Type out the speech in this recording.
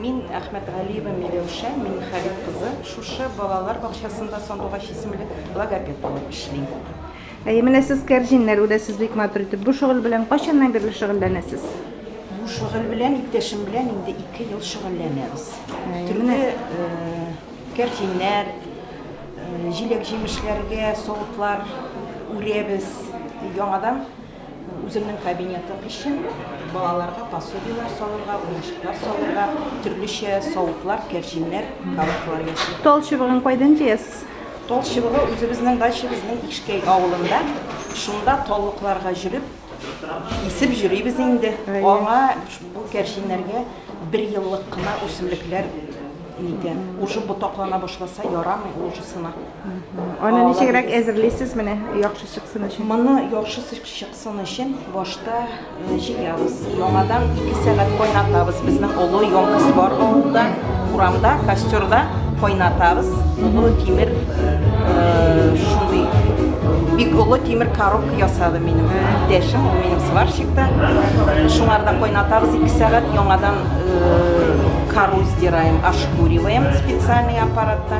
Мин Әхмәтгалиева Миләүшә Миннехалил кызы, шушы балалар бакчасында сандугач исемле логопед булып эшлим. Әйе, менә сез кәрҗиннәр үрәсез бик матур итеп. Бу шөгыль белән кайчаннан бирле шөгыльләнәсез? Бу шөгыль белән иптәшем белән инде ике ел шөгыльләнәбез. Төрле кәрҗиннәр, җиләк-җимешләргә савытлар үрәбез, яңадан Үземнең кабинетым өчен балаларга пособиеләр салырга, уенчыклар салырга, төрлечә савытлар, кәрҗиннәр, коробкалар ясыйм. Тал чыбыгын кайдан җыясыз? Тал чыбыгы үзебезнең дачабызның Ишкәй авылында. Шунда таллыкларга җөреп, кисеп җөрибез инде. Аңа бу кәрҗиннәргә бер еллык кына үсемлекләр нитә. Уже ботаклана башласа, ярамый, ул уже сына. Аны ничегрәк әзерлисез менә яхшы чыксын өчен? Моны яхшы чыксын өчен башта э, җыябыз. Яңадан 2 сәгать кайнатабыз. Безнең олы йонкыз бар авылда, урамда, костерда кайнатабыз. Олы тимер э, шундый бик олы тимер коробка ясады минем иптәшем, ул минем сварщикта. Шуңарда кайнатабыз 2 сәгать яңадан э, кору сдираем, ошкуриваем специальный аппаратта.